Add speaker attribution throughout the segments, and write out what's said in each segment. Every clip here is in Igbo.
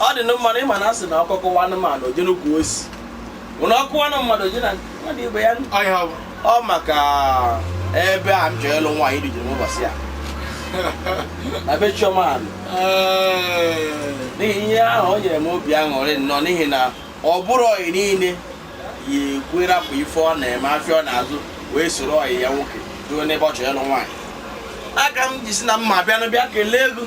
Speaker 1: ọ
Speaker 2: dị mma na ịma na asị na ọkọ kọọ anụmanụ o jee n'ukwu osisi na ọ kọọ anụ mmadụ o jee na mmadụ ibe ya ọ maka ebe a m chọrọ ịlụ nwaanyị dị jiri ụbọchị ya na be chioma alụ n'ihi ihe ahụ o nyere m obi aṅụrị nnọọ n'ihi na ọ bụrọ ọyị niile ya-ekwe rapụ ife ọ na-eme afịa ọ na-azụ wee soro ọyị ya nwoke ruo n'ebe ọ chọrọ ịlụ nwaanyị ya ka m ji sị na m ma bịanụ bịa kelee gị o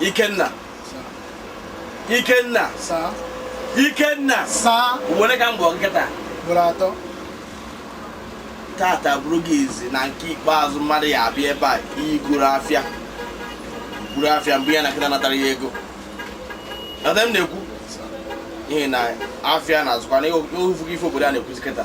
Speaker 2: Ikenna Ikenna sir Ikenna sir ugbo one ka m kpọrọ gị kịta ugboro atọ tata bụrụ gị izizi na nke ikpeazụ mmadụ ya-abịa ebe a igoro afịa buru afịa mgbe ya na kịta natara ya ego ebe m na-ekwu n'ihi na afịa na-azụkwa na ofu gị ife obodo a na-ekwuzi kịta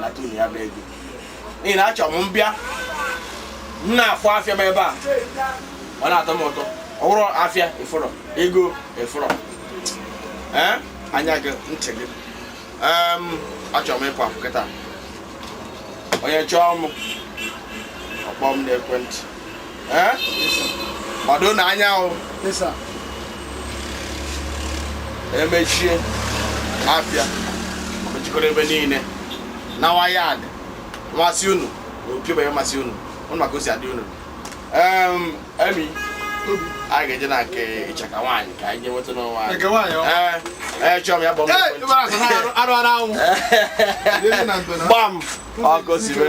Speaker 2: nata unu ya bụ ego n'ihi na achọrọ m m bịa m na-afụ afịa m ebe a ọ na-atọ m ụtọ ọ bụrọ afịa ị fụrọ ego ị fụrọ ee anya gị ntị gị Em, achọrọ m ịpụ apụ kịta onye chọọ m ọ kpọọ m n'ekwentị eh? gbadonụ anya unu emechie afịa mechikọrọ ebe niile na wayad masị unu na okebe masị unu unu maka o si adị unu emi anyị ga-eje na nke ịchaka nwaanyị ka anyị nweta n'ọnwa anyị ee chọọ m ya gbam gbam ọkụ sibe